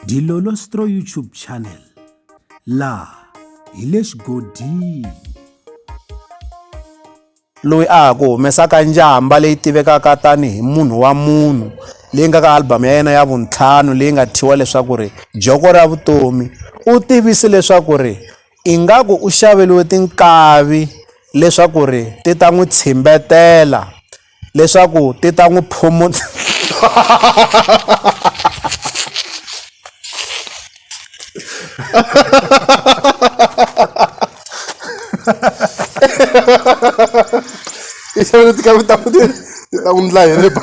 Dilolo Stro YouTube channel laha hi le xigodini. Loyi a ha ku humesaka njhamba leyi tivekaka tanihi munhu wa munhu leyi nga ka album ya yena ya vuntlhanu leyi nga thyiwa leswaku ri joko ra vutomi u tivise leswaku ri ingaku u xaveliwe tinkavi leswaku ri ti ta n'wi tshimbetela leswaku ti ta n'wi phumula i xavile ti kavita futhi ti ta n'wi ndla hi ri ba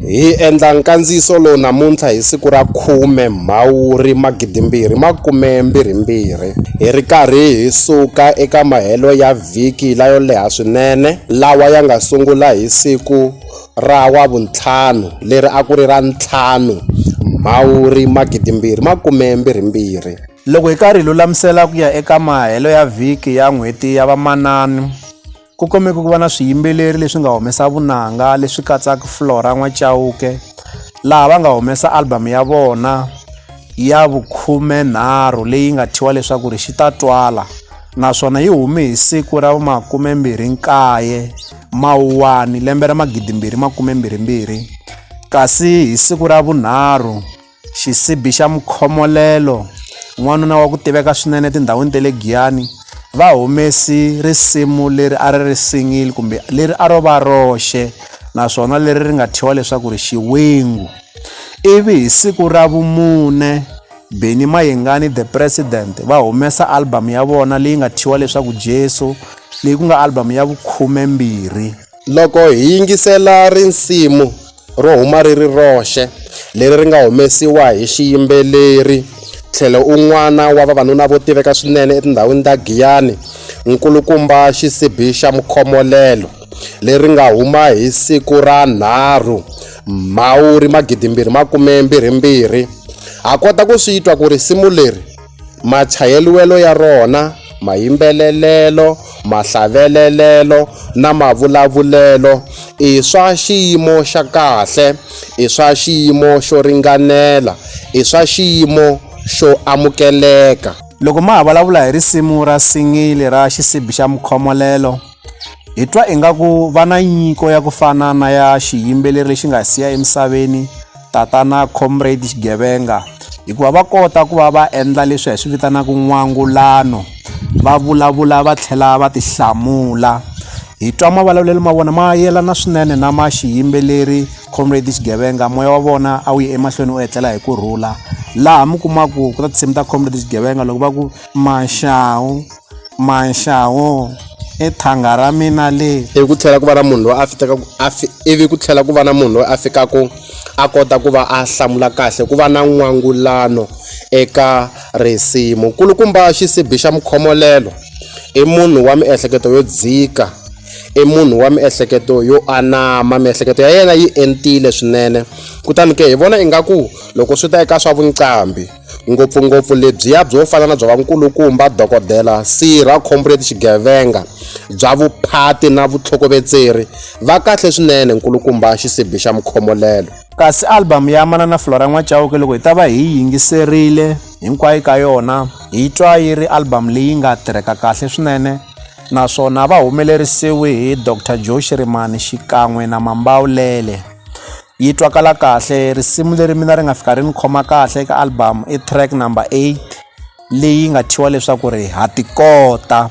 Hi endla nkandziyiso lowu namuntlha hi siku ra 10 Mhawuri 2022 hi ri karhi hi suka eka mahelo ya vhiki layo leha swinene lawa ya nga sungula hi siku ra Wavuntlhanu leri a ku ri ra 5 Mhawuri 2022. Loko hi karhi hi lulamisela ku ya eka mahelo ya vhiki ya N'hweti ya Vamanana, Ku kumeka ku va na swiyimbeleri leswi nga humesa vunanga leswi katsaka Flora N'wachauke laha va nga humesa album ya vona ya vukhumenharhu leyi nga thyiwa leswaku ri xi ta twala naswona yi hume hi siku ra makumembirhi nkaye mawuwani lembe ra magidimbirhi makumembirhi mbirhi kasi hi siku ra vunharhu Xisibi xa mukhomolelo, n'wanuna wa ku tiveka swinene etindhawini ta le Giyani, va humesi risimu leri a ri ri single kumbe leri a ro va roxe naswona leri ri nga thyiwa leswaku ri Xiwingu. Ivi hi siku ra vumune Benny Mayengani the President va humesa album ya vona leyi nga thyiwa leswaku Jesu leyi ku nga album ya vukhume mbirhi. Loko hi yingisela risimu ro huma ri ri roxe leri ri nga humesiwa hi xiyimbeleri tlhelo un'wana wa vavanuna vo tiveka swinene etindhawini ta Giyani, nkulukumba xisibi xa mukhomolelo, leri nga huma hi siku ra 3 Mhawuri 2022, ha kota ku swi twa ku risimu leri machayeriwelo ya rona, mayimbelelelo, mahlavelelelo na mavulavulelo i swa xiyimo xa kahle, i swa xiyimo xo ringanela, i swa xiyimo xo amukeleka. Loko ma ha vulavula hi risimu ra singili ra Xisibi xa Mukhomolelo, hi twa ingaku va na nyiko ya ku fana na ya xiyimbeleri lexi nga siya emisaveni, tatana comrade xigevenga hikuva va kota ku va va endla leswi hi swi vitanaka n'wangulano va vulavula va tlhela va tihlamula hi twa mavulavulelo ma vona ma yelana swinene na ma xiyimbeleri comrade xigevenga moya wa vona a wu ye emahlweni u etlela hi ku rhula laha mi kumaku ku ta tinsimu ta comrade xigevenga loko va ku maxawu Manxawu, I thanga ra mina leri. Ivi ku tlhela ku va na munhu loyi a fikaka a fi ivi ku tlhela ku va na munhu loyi a fikaka a kota ku va a hlamula kahle ku va na n'wangulano eka risimu nkulukumba xisibi xa mukhomolelo i munhu wa miehleketo yo dzika i munhu wa miehleketo yo anama miehleketo ya yena yi entile swinene kutani ke hi vona ingaku loko swi ta eka swa vuqambi. ngopfungopfu lebyiya byo fana na bya vankulukumba dokodela sirha khombo leti xigevenga bya vuphati na vutlhokovetseri va kahle swinene nkulukumba xisibi xa mukhomolelo kasi album ya manana flora n'wachauke loko hi ta va hi yi yingiserile hinkwayo ka yona hi twa yi ri album leyi nga tirheka kahle swinene naswona va humelerisiwe hi dr joe xirimani xikan'we na mambawulele yi twakala kahle risimu leri mina ri nga fika ri ni khoma kahle eka album i track number eight leyi nga thyiwa leswaku ri ha tikota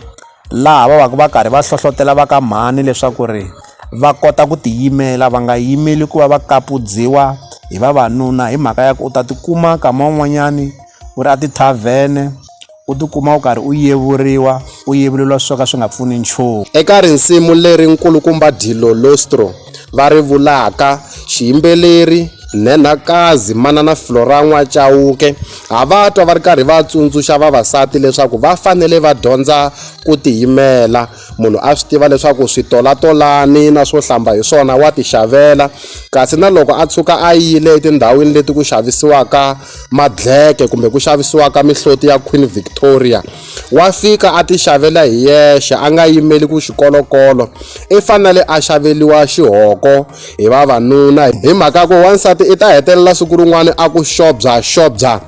laha va vaku va karhi va hlohlotela va ka mhani leswaku ri va kota ku tiyimela va nga yimeli ku va va kapudziwa hi vavanuna hi mhaka ya ku u ta tikuma nkama wun'wanyani u ri a ti-tarven-e u tikuma u karhi u yevuriwa u yevuleliwa swo ka swi nga pfuni nchumu eka risimu leri nkulukumba Dillo Lostro va ri vulaka xiyimbeleri Nhenhakazi Manana Floran'wa Chauke ha va twa va ri karhi va tsundzuxa vavasati leswaku va fanele va dyondza ku tiyimela munhu a swi tiva leswaku switolatolani na swo hlamba hi swona wa ti xavela kasi na loko a tshuka a yile etindhawini leti ku xavisiwaka madleke kumbe ku xavisiwa ka mihloti ya Queen Victoria, wa fika a ti xavela hi yexe a nga yimeli ku xikolokolo i fanele a xaveliwa xihoko hi vavanuna hi mhaka ku wansati i ta hetelela siku rin'wana a ku xobya xobya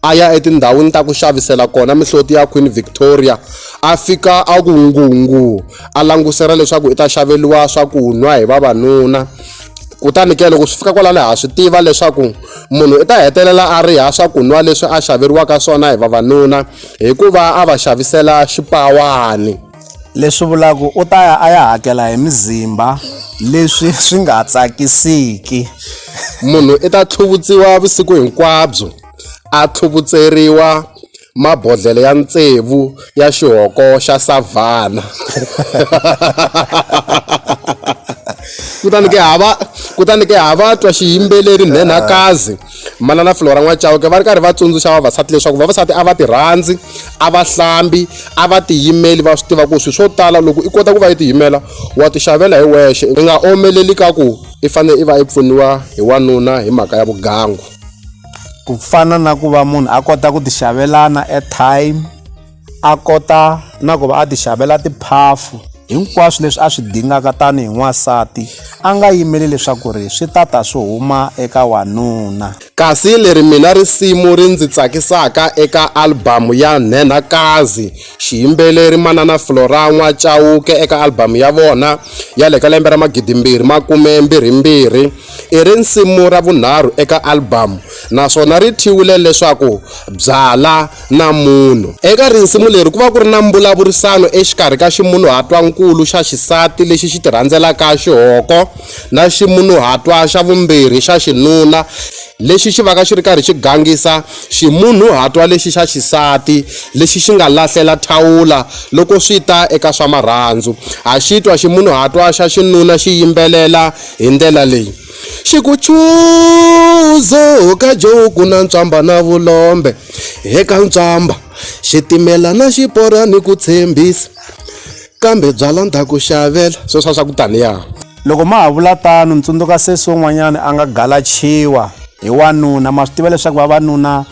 a ya etindhawini ta ku xavisela kona mihloti ya Queen Victoria a fika a ku ngungu a langusela leswaku i ta xaveliwa swakunwa hi vavanuna kutani ke loko swi fika kwalano ha swi tiva leswaku munhu i ta hetelela a riha swakunwa leswi a xaveriwaka swona hi vavanuna hikuva a va xavisela xipawani leswi vulaku u ta ya a ya hakela hi mizimba leswi swi nga tsakisiki munhu i ta tlhuvutsiwa vusiku hinkwabyo a tlhuvutseriwa mabodlhela ya tsevu ya xihoko xa savhana. kutani ke hava kutani ke hava twa xiyimbeleri nhenhakazi manana flora n'wachauke va ri karhi va tsundzuxa vavasati leswaku vavasati a va ti rhandzi a va hlambi a va tiyimeli va swi tiva ku swilo swo tala loko i kota ku va yi tiyimela wa ti xavela hi wexe i nga omeleli ka ku i fanele i va i pfuniwa hi wanuna hi mhaka ya vugangu ku fana na ku va munhu a kota ku ti xavelana airtime a kota na ku va a ti xavela tiphafu hinkwaswo leswi a swi dingaka tanihi n'wansati a nga yimeli leswaku ri swi ta ta swi huma eka wanuna kasi leri mina risimu ri ndzi tsakisaka eka albhamu ya nhenhakazi xiyimbeleri manana flora n'wa cawuke eka albhamu ya vona ya le ka lembe ra magidimbirhi makume mbirhi mbirhi I risimu ra vunharhu eka albhamu naswona ri thyiwile leswaku Byala na Munhu. Eka risimu leri ku va ku ri na mbulavurisano exikarhi ka ximunhuhatwa-nkulu xa xisati lexi xi tirhandzelaka xihoko na ximunhuhatwa xa vumbirhi xa xinuna lexi xi vaka xi ri karhi xi gangisa ximunhuhatwa lexi xa xisati lexi xi nga lahlela thawula loko swi ta eka swa marhandzu. Ha xitwa ximunhuhatwa xa xinuna xi yimbelela Hi ndlela leyi, xikuchuzo ka Joe ku na ntswamba na vulombe, eka ntswamba, xitimela na xipora ni ku tshembisa, kambe byala ndha ku xavela, sweswa swa ku taniya. Loko ma ha vula tano, ni tsundzuka sesi wun'wanyana a nga galachiwa hi wanuna. Ma swi tiva leswaku vavanuna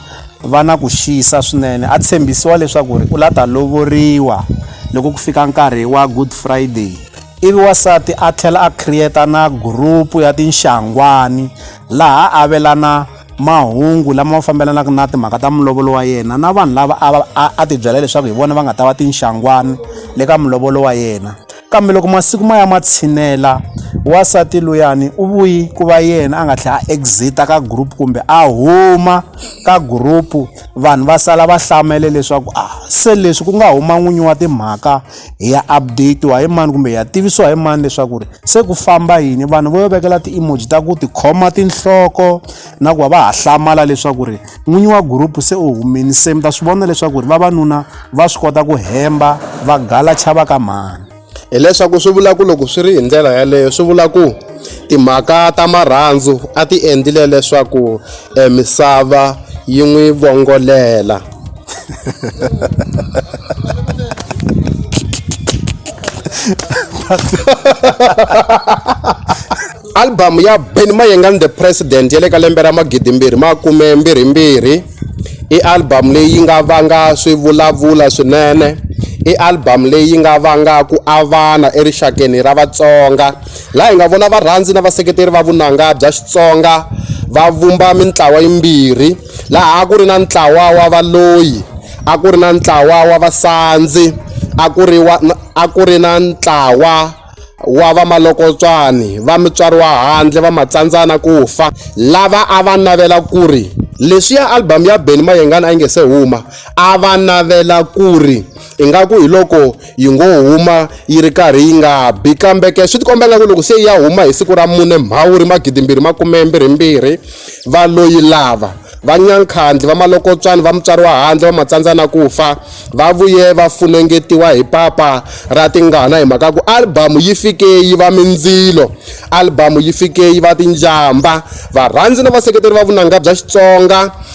va na ku xisa swinene. A tshembisiwa leswaku ri u la ta lovoriwa loko ku fika nkarhi wa Good Friday. Ivi wansati a tlhela a create na group ya tinxangwani laha a avelana mahungu lama fambelanaka na timhaka ta mulovolo wa yena na vanhu lava a a ti byela leswaku hi vona va nga ta va tinxangwani le ka mulovolo wa yena kambe loko masiku ma ya ma tshinela wasati luyani u vuyi ku va yena a nga tlhela a exita ka group kumbe a huma ka group vanhu va sala va hlamele leswaku a ah, se leswi ku nga huma n'winyi wa timhaka hi ya updatiwa hi mani kumbe hi ya tivisiwa hi mani leswaku ri se ku famba yini vanhu vo vekela ti-emoji ta ku tikhoma tinhloko na ku va va ha hlamala leswaku ri n'winyi wa gurupu se u humini se mi ta swi vona leswaku ri vavanuna va swi kota ku hemba va gala chava ka mhani hileswaku swi vula ku loko swi ri hi ndlela yaleyo swi vula ku timhaka ta marhandzu a ti endlile leswaku e misava yi n'wi vongolela album ya ben mayengan the president ya le ka lembe ra magidimbirhi makume mbirhimbirhi i album leyi nga vanga swivulavula swinene i album leyi nga vanga ku avana erixakeni ra vatsonga laha hi nga vona varhandzi na vaseketeri va vunanga bya Xitsonga va vumba mintlawa yimbirhi laha a ku ri na ntlawa wa valoyi a ku ri na ntlawa wa vasandzi a ku ri wa a ku ri na ntlawa wa vamalokotswani va mutswari wa handle va matsandzana ku fa lava a va navela ku ri leswiya album ya Benny Mayengani a yi nge se huma a va navela ku ri Ingaku hi loko yi ngo huma yi ri karhi yi nga bi kambe ke swi tikomba ingaku loko se yi ya huma hi siku ra mune mhawuri magidimbirhi makumembirhimbirhi va lo yi lava va nyankhandli va malokotswani va mutswari wa handle va matsandza na ku fa va vuye va funengetiwa hi papa ra tingana hi mhaka ku albhamu yi fike yi va mindzilo albhamu yi fike yi va tinjamba varhandzi na vaseketeri va vunanga bya xitsonga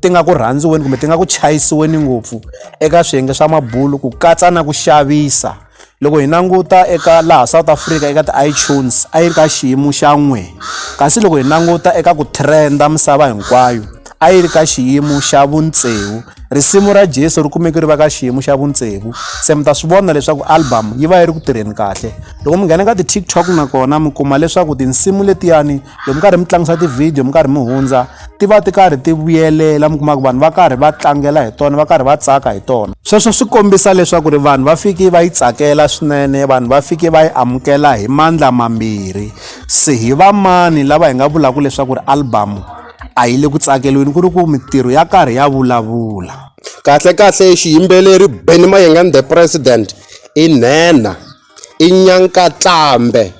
ti nga ku rhandziweni kumbe ti nga ku chayisiweni ngopfu eka swiyenge swa mabulu ku katsa na ku xavisa loko hi languta eka laha south africa eka ti-itunes a yi ri ka xiyimo xa n'we kasi loko hi languta eka ku trenda misava hinkwayo a yi ri ka xiyimo xa vuntsevu risimu ra jesu ri kumeke ri va ka xiyimo xa vuntsevu se mi ta swi vona leswaku album yi va yi ri ku tirheni kahle loko mi nghena ka ti-tiktok nakona mi kuma leswaku tinsimu letiyani loko mi karhi mi tlangisa tivhidiyo mi karhi mi hundza ti va ti karhi ti vuyelela mi kuma ku vanhu va karhi va tlangela hi tona va karhi va tsaka hi tona sweswo swi kombisa leswaku ri vanhu va fiki va yi tsakela swinene vanhu va fiki va yi amukela hi mandla mambirhi se hi va mani lava hi nga vulaka leswaku ri albamu a yi le ku tsakeliweni ku ri ku mintirho ya karhi ya vulavula kahle kahle xiyimbeleri benny mayengan the president i nhenha i nyankatlambe,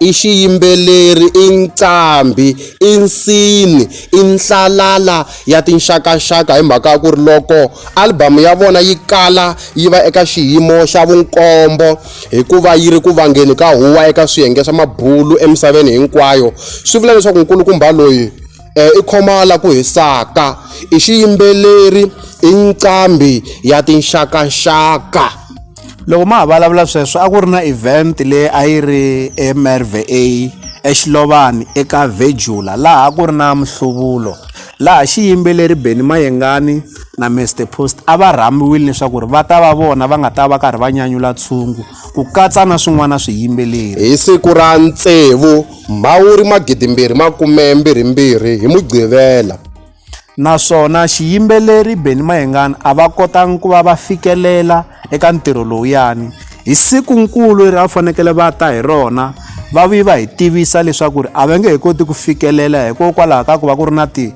i xiyimbeleri, i nqambhi, i nsini, i nhlalala ya tinxakaxaka hi mhaka ya ku ri loko album ya vona yi kala yi va eka xiyimo xa vunkombo hikuva yi ri ku vangeni ka huwa eka swiyenge swa mabulu emisaveni hinkwayo swi vula leswaku nkulukumba loyi um i khoma la ku hisaka i xiyimbeleri i nqambhi ya tinxakaxaka. loko ma ha vulavula sweswo a ku ri na event leyi a yi ri emerva exilovani eka vegula laha a ku ri na mihluvulo laha xiyimbeleri beni mayengani na mr post a va rhambiwile leswaku ri va ta va vona va nga ta va karhi va nyanyula tshungu ku katsa na swin'wana swiyimbeleri hi siku ra ntsevu mhawuri magidimbirhi makumembirhimbirhi hi mugqivela naswona xiyimbeleri Benny Mayengani a va kotanga ku va va fikelela eka ntirho lowuyani hi siku nkulu leri a va fanekele va ta hi rona va vi va hi tivisa leswaku ri a va nge he koti ku fikelela hikokwalaho ka ku va ku ri na ti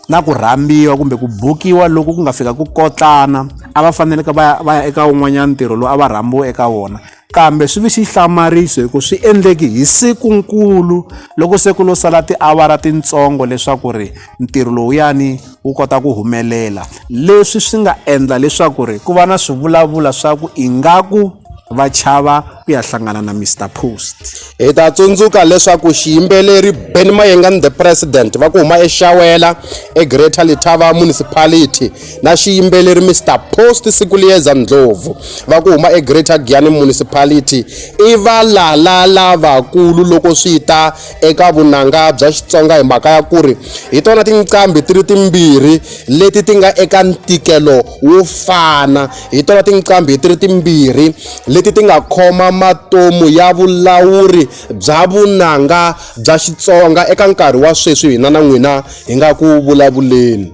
na ku rhambiwa kumbe ku bukiwa loko ku nga fika ku kotlana a va faneleke va ya va ya eka wun'wanyana ntirho lowu a va rhambiwe eka wona Kambe swi vi xihlamariso hi ku swi endleki hi siku-nkulu loko se ku lo sala tiawara tintsongo leswaku ri ntirho lowuyani wu kota ku humelela. Leswi swi nga endla leswaku ri ku va na swivulavula swa ku ingaku va chava ku ya hlangana na Mister Post. Hi ta tsundzuka leswaku xiyimbeleri Benny Mayengani The President va ku huma eXawela eGreater Letaba Municipality na xiyimbeleri Mr Post Sikuliyeza Ndlovu va ku huma eGreater Giyani Municipality i valala lavakulu loko swi ta eka vunanga bya Xitsonga hi mhaka ya ku ri hi tona tinqambi ti ri timbirhi leti ti nga eka ntikelo wo fana hi tona tinqambi ti ri timbirhi leti ti nga khoma matomu ya vulawuri bya vunanga bya Xitsonga eka nkarhi wa sweswi hina na n'wina hi nga ku vulavuleni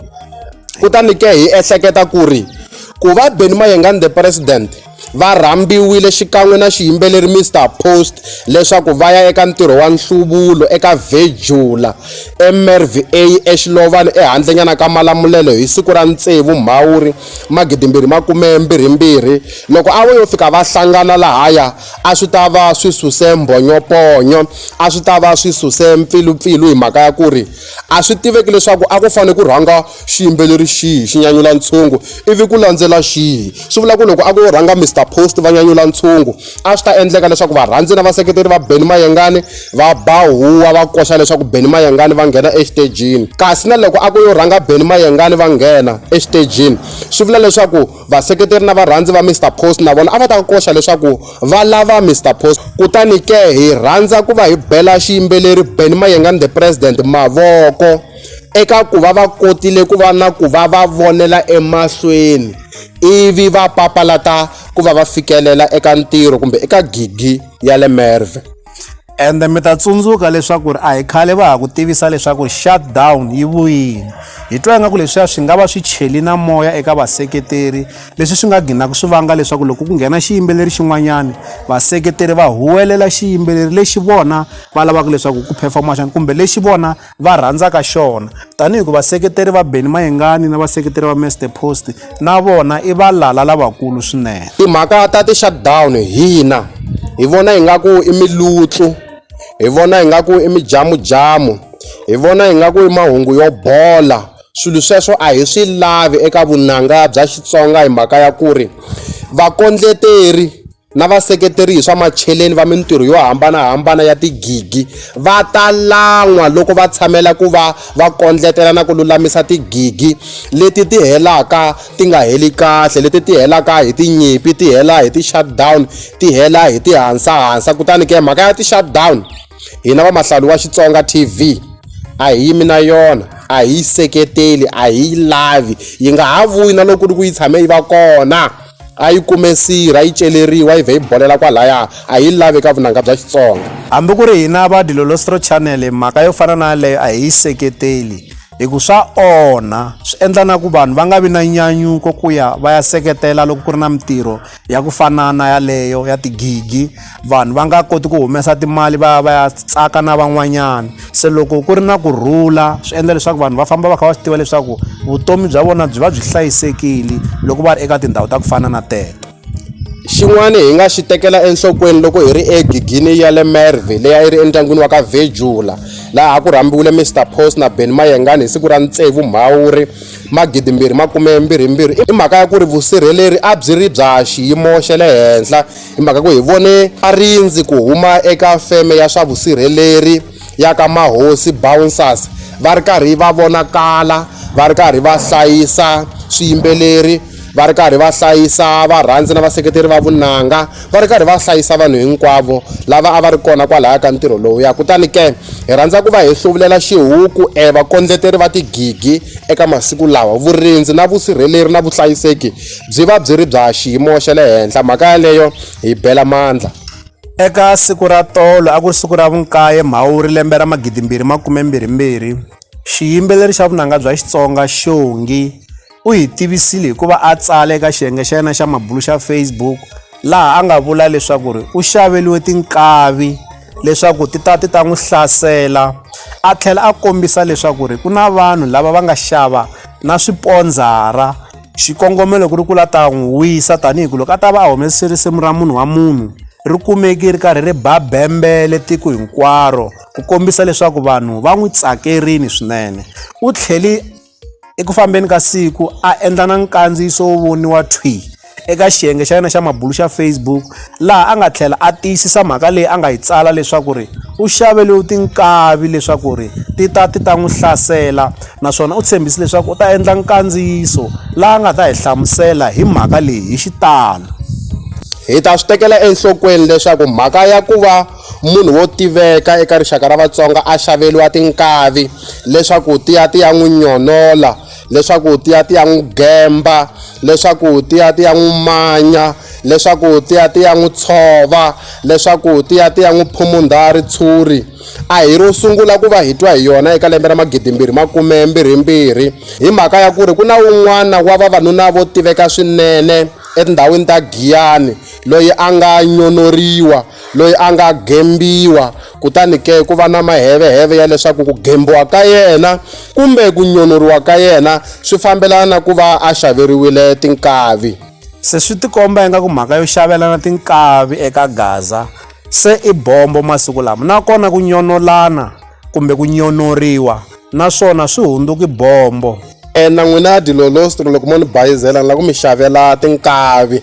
kutani ke hi ehleketa ku ri ku va Benny Mayengani the president va rhambiwile xikan'we na xiyimbeleri Mr Post leswaku va ya eka ntirho wa nhluvulo eka Vejula eMerva eXilovani ehandlenyana ka Malamulelo hi siku ra ntsevu Mhawuri magidimbirhi makume mbirhimbirhi loko a vo yo fika va hlangana lahaya a swi ta va swi suse mbhonyoponyo a swi ta va swi suse mpfilupfilu hi mhaka ya ku ri A swi tiveki leswaku a ku fanele ku rhanga xiyimbeleri xihi xi nyanyula ntshungu ivi ku landzela xihi. Swi vula ku loko a ku yo rhanga Mister Post va nyanyula ntshungu, a swi ta endleka leswaku varhandzi na vaseketeri va Benny Mayengani va ba huwa va koxa leswaku Benny Mayengani va nghena exitejini. Kasi na loko a ku yo rhanga Benny Mayengani va nghena exitejini, swi vula leswaku. Vaseketeri na varhandzi va Mister Post na vona a va ta koxa leswaku va lava Mister Post. Kutani ke hi rhandza ku va hi bela xiyimbeleri Benny Mayengani The President mavoko eka ku va va kotile ku va na ku va va vonela emahlweni ivi va papalata ku va va fikelela eka ntirho kumbe eka gigi ya le Merwe. ende mi ta tsundzuka leswaku ri a hi khale va ha ku tivisa leswaku shutdown yi vuyile hi twa ingaku leswiya swi nga va swi cheli na moya eka vaseketeri leswi swi nga ginaku swi vanga leswaku loko ku nghena xiyimbeleri xin'wanyana vaseketeri va huwelela xiyimbeleri lexi vona va lavaka leswaku ku performa xana kumbe lexi vona va rhandzaka xona tanihi ku vaseketeri va Benny Mayengani na vaseketeri va Mr Post na vona i valala lavakulu swinene timhaka ta ti shutdown hina hi vona ingaku i milutsu hi vona ingaku i mijamujamu hi vona ingaku i mahungu yo bola swilo sweswo a hi swi lavi eka vunanga bya Xitsonga hi mhaka ya ku ri vakondleteri na vaseketeri hi swa macheleni va mintirho yo hambanahambana ya tigigi va ta lan'wa loko va tshamela ku va va kondletela na ku lulamisa tigigi leti ti helaka ti nga heli kahle leti ti helaka hi tinyimpi ti hela hi ti-shutdown ti hela hi tihansahansa kutani ke mhaka ya ti-shutdown hina vamahlawuli wa xitsonga tv a hi yimi na yona a hi yi seketeli a hi yi lavi yi nga ha vuyi na loko ku ri ku yi tshame yi va kona A yi kume sirha, yi celeriwa, yi vhe yi bolela kwalaya. A hi yi lavi eka vunanga bya Xitsonga. Hambi ku ri hina va Dilolostro Channel mhaka yo fana na yaleyo a hi yi seketeli hi ku swa onha, swi endla na ku vanhu va nga vi na nyanyuko ku ya va ya seketela loko ku ri na mintirho ya ku fana na yaleyo ya tigigi. vanhu va nga koti ku humesa timali va ya va ya tsaka na van'wanyana se loko ku ri na ku rhula swi endla leswaku vanhu va famba va kha va swi tiva leswaku vutomi bya vona byi va byi hlayisekile loko va ri eka tindhawu ta ku fana na teto xin'wana hi nga xi tekela enhlokweni loko hi ri egigini ya le merve leyi a yi ri endyangwini wa ka vejula laha ku rhambiwile mr post na ben mayengani hi siku ra ntsevu mhawuri magidimbirhi makume mbirhi mbirhi i mhaka ya ku ri vusirheleri a byi ri bya xiyimo xa le henhla Hi mhaka ku hi vone a rindzi ku huma eka feme ya swa vusirheleri ya ka Mahosi Bouncers va ri karhi va vonakala va ri karhi va hlayisa swiyimbeleri va ri karhi va hlayisa varhandzi na vaseketeri va vunanga va ri karhi va hlayisa vanhu hinkwavo lava a va ri kona kwalaya ka ntirho lowuya kutani ke hi rhandza ku va hi hluvulela xihuku e vakondleteri va tigigi eka masiku lawa vurindzi na vusirheleri na vuhlayiseki byi va byi ri bya xiyimo xa le henhla mhaka yaleyo hi bela mandla eka siku ra tolo a ku ri siku ra vunkaye mhawuri lembe ra magidi mbirhi makume mbirhi mbirhi xiyimbeleri xa vunanga bya xitsonga xongi u hi tivisile hikuva a tsala eka xiyenge xa yena xa mabulu xa facebook laha a nga vula leswaku ri u xaveliwe tinkavi leswaku ti ta ti ta n'wi hlasela a tlhela a kombisa leswaku ri ku na vanhu lava va nga xava na swipondzara Xikongomelo ku ri ku la ta n'wi wisa tanihi ku loko a ta va a humese risimu ra munhu wa munhu ri kumeki ri karhi ri ba bembele tiko hinkwaro ku kombisa leswaku vanhu va n'wi tsakerini swinene u tlhele eku fambeni ka siku a endla na nkandziyiso wo voniwa thwi eka xiyenge xa yena xa mabulu xa Facebook. laha a nga tlhela a tiyisisa mhaka leyi a nga yi tsala leswaku ri u xavele tinkavi leswaku ri ti ta ti ta n'wi hlasela naswona u tshembise leswaku u ta endla nkandziyiso laha nga ta hi hlamusela hi mhaka leyi hi xitalo hi ta swi tekela enhlokweni leswaku mhaka ya ku va munhu wo tiveka eka rixaka ra vatsonga a xaveriwa tinkavi leswaku ti ya ti ya n'wi nyonola leswaku ti ya ti ya n'wi gemba leswaku ti ya ti ya n'wi manya leswaku ti ya ti ya n'wi tshova leswaku ti ya ti ya n'wi phumundha ritshuri a hi ro sungula ku va hi twa hi yona eka lembe ra magidimbirhi makumembirhimbirhi hi mhaka ya ku ri ku na un'wana wa vavanuna vo tiveka swinene etindhawini ta giyani loyi a nga nyonoriwa loyi a nga gembiwa kutani ke ku va na maheveheve ya leswaku ku gembiwa ka yena kumbe ku nyonoriwa ka yena swi fambelana na ku va a xaveriwile tinkavi se swi tikomba ingaku mhaka yo xavelana tinkavi eka gaza se i bombo masiku lama nakona ku nyonolana kumbe ku nyonoriwa naswona swi hundzuki bombo e na n'wina ya dilolostri loko mo ni bayizela ni la ku mi xavela tinkavi